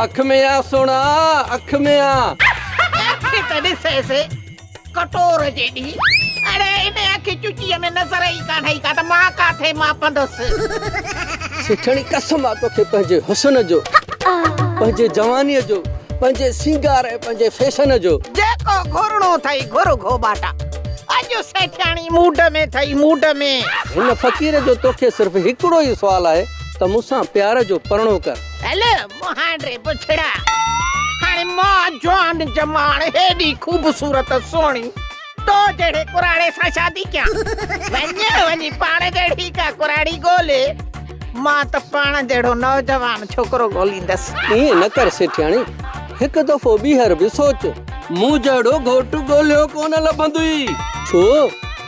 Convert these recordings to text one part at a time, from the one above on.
اک ۾ آ سهڻا اک ۾ آ. اکي ته ڏسيس ڪٽور جيڏي. اڙي ان اکي چچي ۾ نظر ئي ڪانه ايئي ڪا ته مان ڪاٿي ماپندس. سيٺاڻي قسم آ توکي پنهنجي حسن جو. پنهنجي جواني جو. پنهنجي سينگار ۽ پنهنجي فيشن جو. جيڪو گهرڻو اٿئي گهر گهوٻاٽا. اڄ سيٺاڻي موڊ ۾ اٿئي موڊ ۾. هن فقير جو توکي صرف هڪڙو ئي سوال آهي. ته مون سان پيار جو پرڻو ڪر. هل مهان ڙي بڇڙا، هاڻي مان جوان جماڻ هيڏي خوبصورت سهڻي تو جهڙي ڪراڙي سان شادي ڪيان. وڃ وڃي پاڻ جهڙي ڪا ڪراڙي ڳولي، مان ته پاڻ جهڙو نوجوان ڇوڪرو ڳوليندس. ائين نه ڪر سيٺياڻي. هڪ دفعو ٻيهر به سوچ. مون جهڙو گهوٽ ڳولهيو ڪونه لڀندوئي. ڇو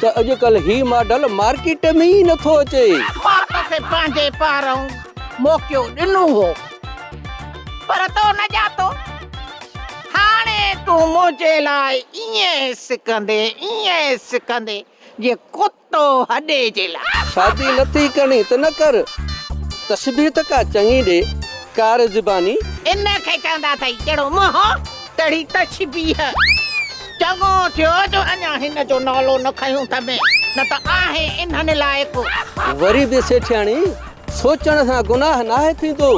ته اڄڪلهه هي ماڊل مارڪيٽ ۾ ئي نٿو اچي. مان توکي پنهنجي پارئون موقعو ڏنو هو پر تو نه ڄاتو. هاڻي تون منهنجي لاء ائين سڪندين، ائين سڪندين جيئن ڪتو. تو هڏي جي لاء. شادي نه ٿي ڪرڻي ته نه ڪر. تشبيهه ته ڪا چڱي ڏي ڪار زباني. ان کي چوندا اٿئي جهڙو منهن تهڙي تشبيهه. چڱو ٿيو جو اڃا هن جو نالو نه کنيو اٿم نه ته آهي انهن لاء ڪو. وري به سيٺياڻي سوچڻ سان گناهه ناهي ٿيندو.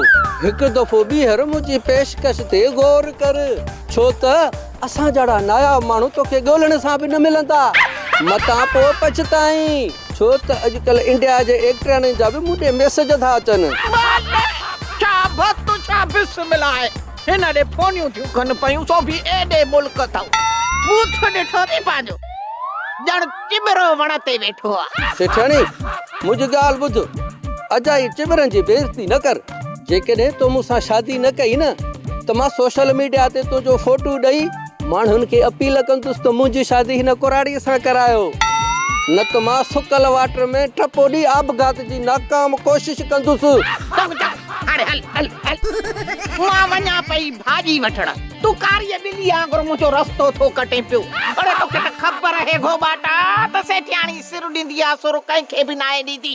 هڪ دفعو ٻيهر منهنجي پيشڪش تي غور ڪر ڇو ته. اسان جهڙا ناياب ماڻهو توکي ڳولهڻ سان به نه ملندا. متان پوء پڇتائين. ڇو ته اڄڪلهه انڊيا جي ايڪٽرياڻين جا به مون ڏي ميسج ٿا اچن. ڇا بس تو ڇا بسمل آهي. هن ڏي فونيون ٿيون ڪن پيون سو به ايڏي ملڪ اٿئون. بوٿ ڏٺو ٿي پنهنجو. ڄڻ چٻرو وڻ تي ويٺو آهي. سيٺياڻي منهنجي ڳالهه ٻڌ. اجائي چٻرن جي بي عزتي نه ڪر. جيڪڏهن تو مون سان شادي نه ڪئي نه ته مان سوشل ميڊيا تي تنهنجو فوٽو ڏئي ماڻهن کي اپيل ڪندس ته منهنجي شادي هن ڪراڙي سان ڪرايو نه ته مان سڪل واٽر ۾ ٽپو ڏئي آپگهات جي ناڪام ڪوشش ڪندس. رڪ جا هاڻي هل هل هل مان وڃان پئي ڀاڄي وٺڻ تون ڪاري ٻلي آنگر منهنجو رستو ٿو ڪٽين پيو اڙي توکي ته خبر اهي گهوٻاٽا ته سيٺياڻي سر ڏيندي آ سر ڪنهن کي به ناهي ڏيندي.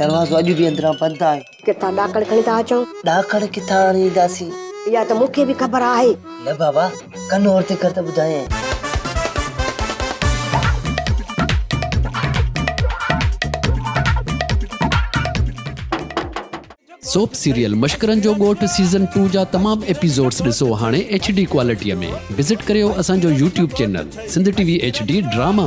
دروازو اڄ به اندران بند آهي. ڪٿان ڏاڪڻ کڻي ٿا اچون؟ ڏاڪڻ ڪٿان آڻي اينداسين؟ اها ته مون کي به خبر آهي. نه بابا، ڪن اور تي ڪر ته ٻڌايئين. سوپ سيريل مشڪرن جو ڳوٺ سيزن ٽو جا تمام ايپيسوڊز ڏسو هاڻي ايڇ ڊي ڪوالٽيء ۾ وزٽ ڪريو اسان جو YouTube channel Sindh T V H D drama.